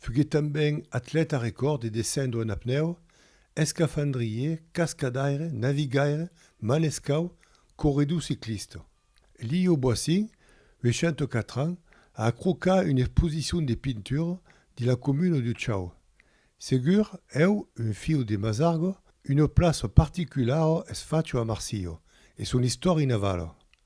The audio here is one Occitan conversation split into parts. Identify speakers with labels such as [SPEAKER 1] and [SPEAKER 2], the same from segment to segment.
[SPEAKER 1] Fuguèt tanben atlèta recòrd de descendre en apnèu, escafandrier, cascadaire, navigaire, manescau, corredor ciclista. Lio Boissin, 84 ans, a acrocat una exposicion de pintura dins la comuna de Chau. Segur, eu, un filh de Masargo, una plaça particulara es facha a Marsilha, e son istòria navala.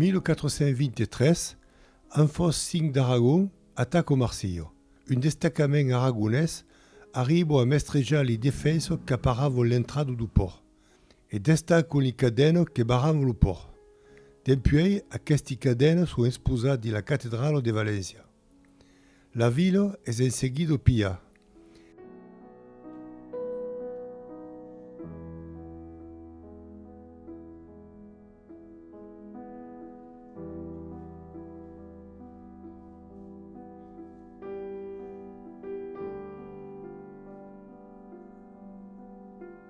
[SPEAKER 1] 1423, un fòrt 5 d'Aragon ataca o Marsilho. Un destacament aragonés arriba a mestrejar li defensors qu'aparava l'entrada do pòrt. e d'estar con li cadènos que barran lo pòrt. Dempuèi aquesti cadènos son exposats dins la catedrala de Valéncia. La vila es en seguida opilhada.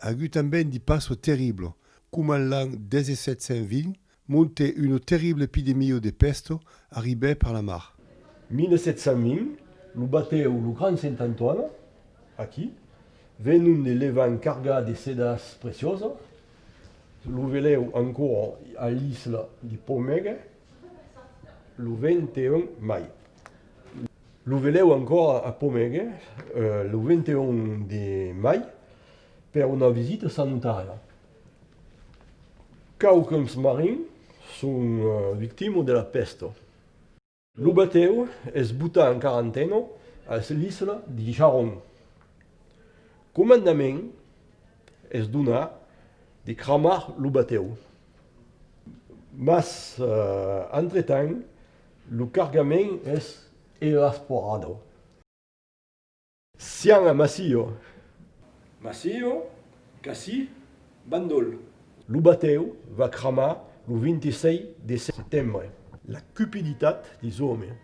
[SPEAKER 1] Agut tanben di passo terriblo, coma en l'an 1720, monte uno terrible epidemio de pesto arribè per la mar. 1720, lo batèu lo Grand Saint Antoine, aquí, venont de Levant cargat de sedas preciosas, lo velèu ancora a l'isla de Pomègue lo 21 mai. Lo velèu ancòra a Pomègue lo 21 de mai per una visita sanitària. Quauquens marins son victimas de la pèsta. Lo batèu es botat en quarantena a l'isla de Jaron. Comandament es donat de cramar lo batèu. Mas, entretant, Lo cargament es evasporado. Sian a Massio. Massio, qu'ací, bandol. Lo batèu va cramar lo 26 de setembre. La cupiditat des òmes.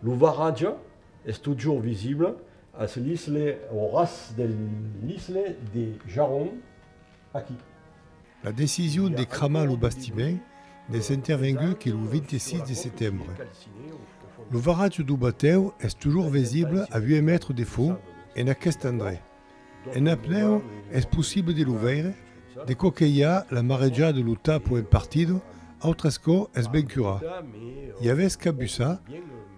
[SPEAKER 1] Lo varatge es totjorn visible as l'isle au ras de l'isle de Jaron aquí. La decision de cramar lo bastiment n'es intervengut que lo 26 de setembre. Lo varatge d'Aubatèu es totjorn visible a 8 mètres de fons en aqueste endrech. En apnèu es possible de lo veire, de co que i a la marejada de lo tapo en partida, autres co es ben curat. I avètz cap usa?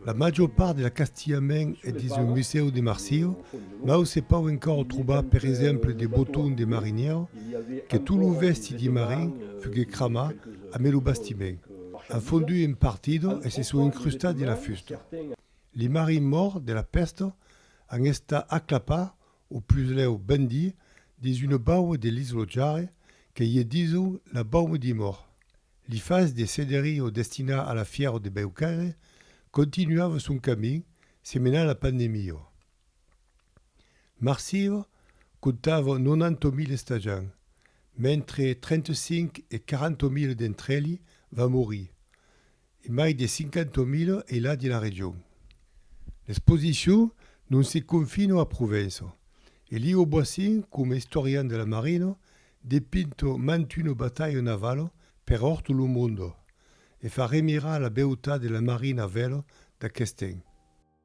[SPEAKER 1] La major part de l'acastilhament es dins lo Musèu de Marsilha, mau se pòu encòra trobar per exemple de botons de marinièr, que tot lo vèsti de marin fuguèt cramat a mai lo bastiment, an fondut en partida e se son incrustats dins la fusta. Li marins mòrts de la pèsta An esta aclapa, o puslèu ben di, dins una baua de l'Islotjare que ié diso la bauma di Mor. Li fas de Cederio destiná a la fièro de Beucaire continuava son camin se menà la pandemio. Marsieu comptava 90.000 estajant, mentre 35 e 40.000 d'entr'elhi van morir. E mai de 50.000 e la de la region. L'exposicion non se confino a Provença. Elio Boissin coma istorian de la marina depinto mantuno batalho navalo per orto lo mondo e fa remirar la beutat de la marina a velo d'aquest'en.